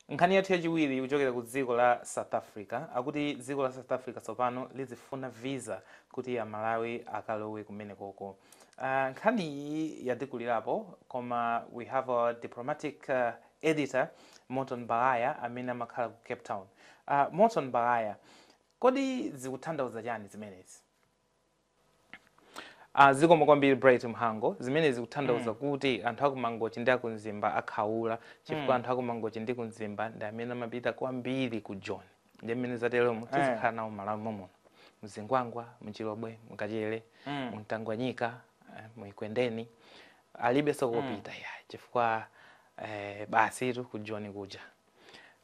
Nkhani yathu yachiwiri ikuchokera ku dziko la South Africa. Akuti dziko la South Africa tsopano lizifuna visa kuti Amalawi akalowe kumeneko. Uh, nkhani iyi yatikulirapo koma we have our diplomatic uh, editor Morton Baghaya amene amakhala ku Cape Town. Uh, Morton Baghaya, kodi zikuthandauza chani zimenezi? Ah, zikomo kwambiri Bright Mhango zimene zikuthandauza mm. kuti anthu aku Mangochi ndi aku Mzimba akhaula chifukwa mm. anthu aku Mangochi ndi ku Mzimba ndi amene amapita kwambiri ku Joni nde mmene zateremu eh. tizikhala nawo m'Malawi mommuno mZingwangwa mChilobwe mKachere mm. mTangwanika eh, mu Ekwendeni alibeso kopita mm. ya chifukwa eh, basitu ku Joni kuja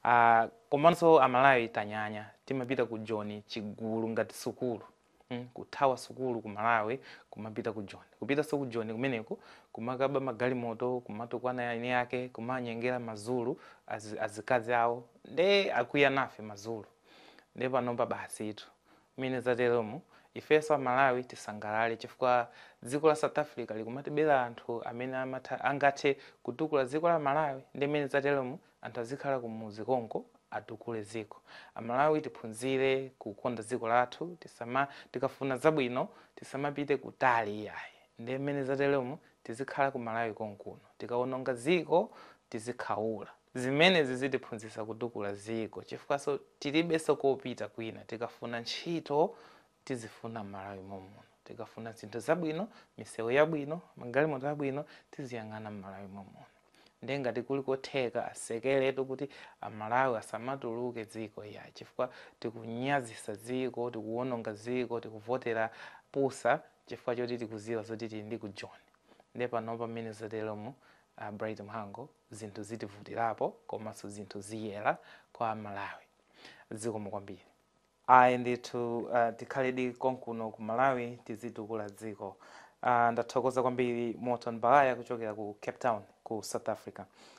uh, komanso amalawi tanyanya timapita ku Joni chigulu ngati sukulu Hmm, kuthawa sukulu ku malawi kumapita ku joni kupitanso ku joni kumeneko kumakaba magalimoto kumatukwana eni ake kumanyengera mazulu az, azikazi awo nde akwiya nafe mazulu nde panopa basitu mmene zateremu ifenso amalawi tisangalale chifukwa dziko la south africa likumatibera anthu amene amatha angathe kutukula dziko la malawi nde mmene zateremu Anthu azikhala kumudzi konko atukule dziko. Amalawi tiphunzire kukonda dziko lathu tisama tikafuna zabwino tisamapite kutali iyayi nde mmene zateremu tizikhala ku Malawi konkuno tikawononga dziko tizikhaula. Zimenezi zitiphunzitsa kutukula dziko chifukwaso tilibeso kopita kwina tikafuna ntchito tizifuna m'malawi mommuno tikafuna zinthu zabwino misewu yabwino magalimoto abwino tiziyang'ana m'malawi mommuno ndiye ngati kuli kotheka atsekeretu kuti amalawi asamatuluke dziko ya chifukwa tikunyazisa dziko tikuwononga dziko tikuvotera pusa chifukwa choti tikuziwa zoti tili ndi ku Joni nde panopa mmene zateremu uh, Bright Mhango zinthu zitivutirapo komanso zinthu ziyera kwa amalawi zikomo kwambiri Ayi ndithu tikhaledi konkuno ku Malawi tizitukula dziko ndathokoza kwambiri Morton Baghaya kuchokera ku Cape Town ku South Africa